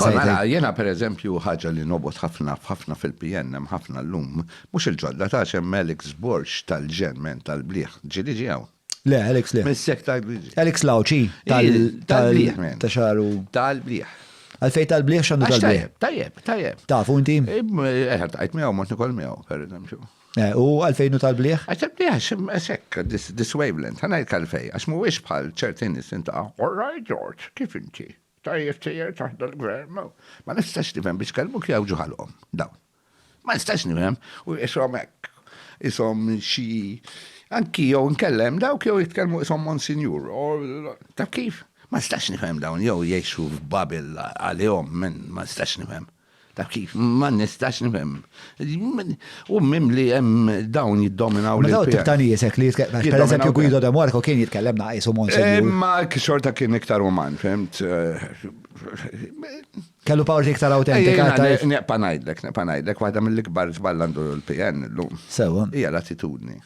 Kol mela, jiena per eżempju ħaġa li nobgħod ħafna f'ħafna fil-PN hemm ħafna llum, mhux il-ġodda tax hemm Alex Borg tal-ġen men tal-bliħ, ġieli ġie hawn? Le, Alex le. Missek tal-bliħ. Alex Lauch hi, tal-bliħ men. Ta' xagħru. Tal-bliħ. Għalfejn tal-bliħ x'għandu tal-bliħ? Tajjeb, tajjeb. Tafu inti? Eħ, tajt miegħu mod nikol miegħu, per eżempju. Eh, u għalfejn u tal-bliħ? Għax tal-bliħ xim esekk, this wavelength, għanaj kalfej, għax mhuwiex bħal ċertin nisinta, all right George, kif inti? Tajjeb sejjer taħt dal-gvern, ma nistax nifhem biex kelmu kif jgħawġu ħalqhom dawn. Ma nistax nifhem u qishom hekk, qishom xi anki jew inkella hemm dawk jew jitkellmu qishom Monsinjur. Taf kif? Ma nistax nifhem dawn jew jgħixu f'Babel għalihom, ma nistax nifhem. Ta' kif? Ma nistax nifhem. U mimli hemm dawn jiddominaw. Ma dawn tip ta' nies hekk li jitkellem. Per eżempju Guido de Marco kien jitkellem naqis u Monsinjur. Imma xorta kien iktar uman, fhimt? Kellu power iktar awtentika. Neqpa' ngħidlek, neqpa' ngħidlek, waħda mill-ikbar żball għandu l-PN illum. Sewwa. Hija l-attitudni.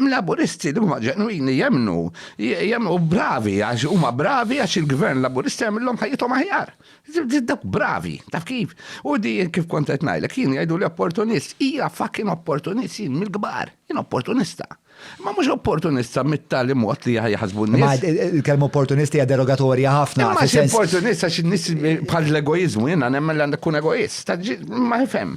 Laburisti li huma ġenwini jemmnu, jemmnu bravi għax huma bravi għax il-Gvern Laburista jagħmilhom ħajjithom aħjar. Dawk bravi, taf kif? U di kif kont qed ngħidlek, jien jgħidu li opportunist, hija fucking opportunist jien mill-kbar, jien opportunista. Ma mhux opportunista mit-tali mod li jaħsbu n-nies. Il-kelma opportunist hija derogatorja ħafna. Ma xi opportunista xi nies bħal l-egoiżmu jiena nemmen li għandek kun egoist. Ma jfhem.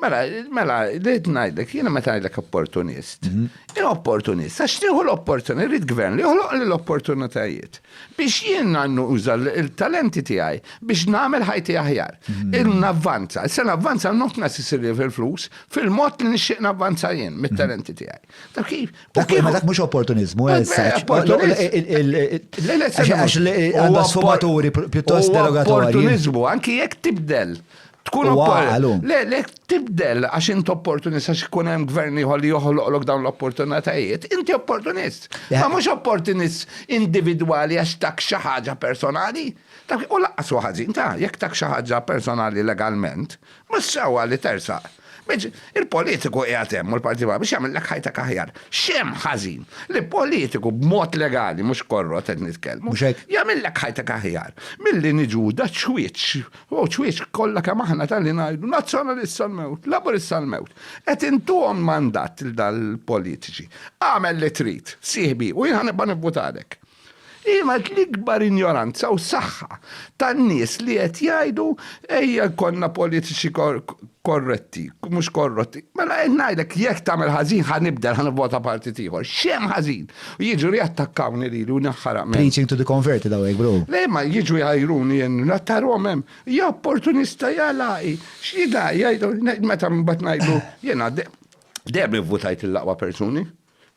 Mela, mela, rrid ngħidlek, jiena meta ngħidlek opportunist. Mhm. Jien opportunist, għax nieħu l-opportunità, rrid gvern li joħloq li l-opportunitajiet biex jien għannu uża l-talenti tiegħi biex nagħmel ħajti aħjar. Mhm. Il-navvanza, se navvanza not necessarily fil-flus, fil-mod li nixtieq navvanza jien mit-talenti mhm. tiegħi. Dak kif? Dak mhux opportunizmu, għax għandha sfumaturi pjuttost derogatorji. Opportunizmu, anki jekk tibdel Tkun opportunità. Le, le, tibdel għax int opportunist għax ikun hemm gvern ieħor li joħloqlok dawn l-opportunitajiet. Inti opportunist. Ma mhux opportunist individwali għax tak xi ħaġa personali. U laqqas ħażin ta' jekk tak xi ħaġa personali legalment, mhux sewwa li tersaq. Biex il-politiku qiegħed hemm u l-Partit Popolari biex jagħmillek ħajtek aħjar. X'hemm ħażin li politiku b'mod legali mhux korrot qed nitkellmu. Mhux hekk. Jagħmillek ħajtek aħjar milli niġu da ċwieċ, u ċwieċ kollha kemm aħna tal-li ngħidu Nazzjonalist sal-mewt, Laburist sal-mewt. Qed intuhom mandat lil dal-politiċi. Agħmel li trid, sieħbi, u jien ħa nibqa' nivvutalek. Kienet l-ikbar injoranza u saħħa tan-nies li qed jgħidu ejja jkollna politiċi korretti, mhux korrotti. Mela qed ngħidlek jekk tagħmel ħażin ħa nibdel, ħa nivvota partit ieħor. X'hemm ħażin? U jiġu riattakkawni lili u ninħaraq minn. Preaching to the converted hawnhekk bro. Le ma jiġu jgħajruni jien nattarom hemm. Ja opportunista ja lagħqi. X'jidha jgħidu meta mbagħad ngħidlu jiena dejjem ivvutajt lill-aqwa persuni.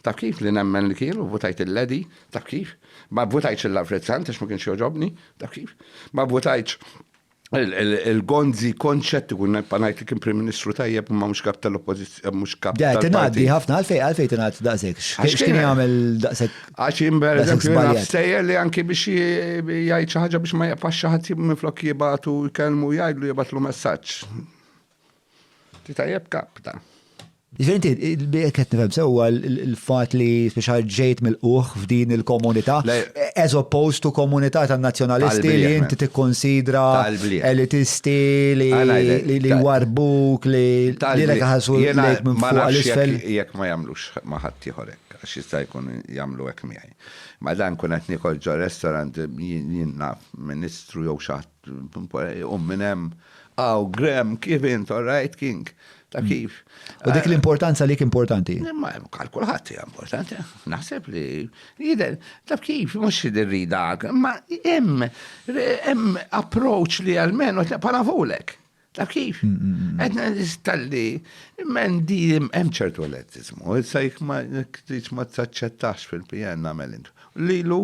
Taf kif, li nemmen li kien u vvutajt il-Ledi, taf kif? Ma vvutajtx il-Lavrizzant għax ma kienx jogħġobni, taf kif? Ma vvutajtx il-Gonzi Concettu kun nibqa' ngħid li kien Prim Ministru tajjeb imma mhux Kap tal-Oppożizzjoni, mhux Kap tal-Partit. Le, tingħaddi ħafna, għalfejn għalfejn tingħadd daqshekk? X'kien jagħmel daqshekk? Għax jien pereżempju naf stejjer li anki biex jgħid xi ħaġa biex ma jaqfax xi ħadd minflok jibgħatu jkellmu jgħidlu jibgħatlu messaġġ. Ti tajjeb kapta. Ġventi, jek qed nifhem sewwa l-fatt li speċjal ġejt mill-quħ f'din il-komunità, as opposed to komunità tan-nazzjonalisti li inti tikkonsidra elitisti li warbuk li lilek ħasu lejk minn fuq l-isfel. Jekk ma jagħmlux ma' ħadd ieħor hekk, għax jista' jkun jagħmlu hekk miegħi. Ma dan kun qed niekol ġo restaurant jien naf ministru jew xi ħadd Iqum minn hemm. Aw, Graham, kif int? All right, King? Ta' kif? U dik l-importanza li importanti? Ma hemm għal kulħadd hija importanti. Naħseb li jidher taf kif mhux rida, ma hemm hemm approach li għalmenu bħala vulek. Ta' kif? Għedna nistalli, men di hemm ċertu elettizmu, issa jek ma t-tix ma t-saċċettax fil-PN namel intu. Lilu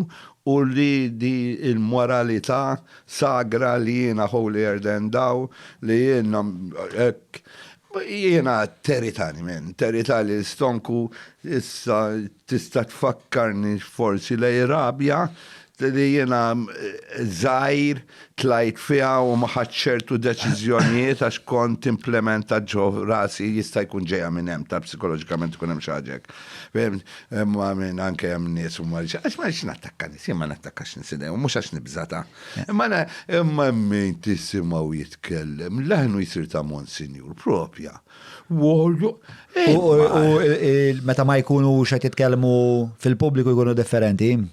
u li di il-moralità sagra li jena holy erden daw li jena jena teritani men, teritani stonku issa tista tfakkarni forsi lej rabja li jiena żgħir tlajt fiha u ma ħadtx ċertu deċiżjonijiet għax kont implementat ġo rasi jista' jkun ġejja minn hemm taf psikoloġikament ikun hemm xi ħaġa hekk. Fihimt? Imma minn anke hemm nies u ma għax ma rridx nattakka nies, jien ma nattakkax nies idejhom, mhux għax nibża' ta'. Imma na imma hemm min tisimgħu jitkellem, leħnu jsir ta' Monsinjur proprja. Wogħlu U meta ma jkunux qed jitkellmu fil-pubbliku jkunu differenti?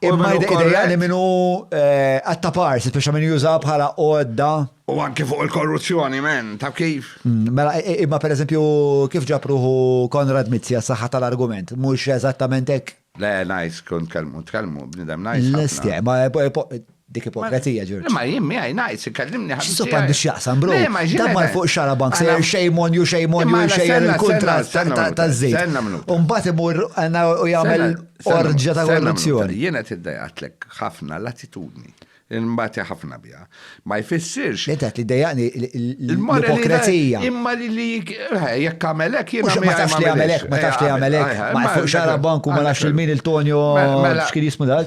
Imma id-idea li minnu għatta eh, parsi, biex minn juża bħala għodda. U anki fuq il-korruzzjoni, men, ta' kif? Mm, mela, imma per eżempju, kif ġapruħu Konrad Mizzi għas-saħħa tal-argument, mux eżattament hekk? Le, najs, kun tkellmu, tkellmu, bnidem najs. L-istja, ma eh, eh, Dik ipokrezija, Ġorġ. Le ma jien miegħi ngħid, ikellimni ħabib. X'sub għandu x'jaqsam, bro? Le ma ġieli. Dammar fuq xara bank se shame on you, shame on you, shame on il-kuntratt taż-żejt. Senna mnut. U mbagħad imur u jagħmel orġja ta' korruzzjoni. Jien qed iddejaqtlek ħafna l-attitudni. Imbagħad ħafna biha. Ma jfissirx. Li qed li dejaqni l-ipokrezija. Imma li li jekk għamelek jien ma tafx li għamelek, ma tafx li għamelek. Ma fuq xara bank u ma nafx il-min il-Tonio x'kien jismu dak.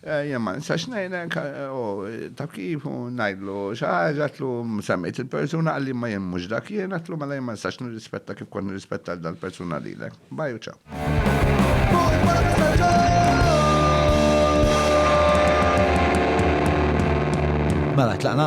Jien ma nistax ngħinek, u taf kif, u ngħidlu xi ħaġa, għatlu semmejt il-persuna, għalli ma jien mhux dak jien, għatlu mela jien ma nistax nirrispetta kif kont nirrispetta l dal-persuna lilek. Baj u ċaw. Mela tlaqna?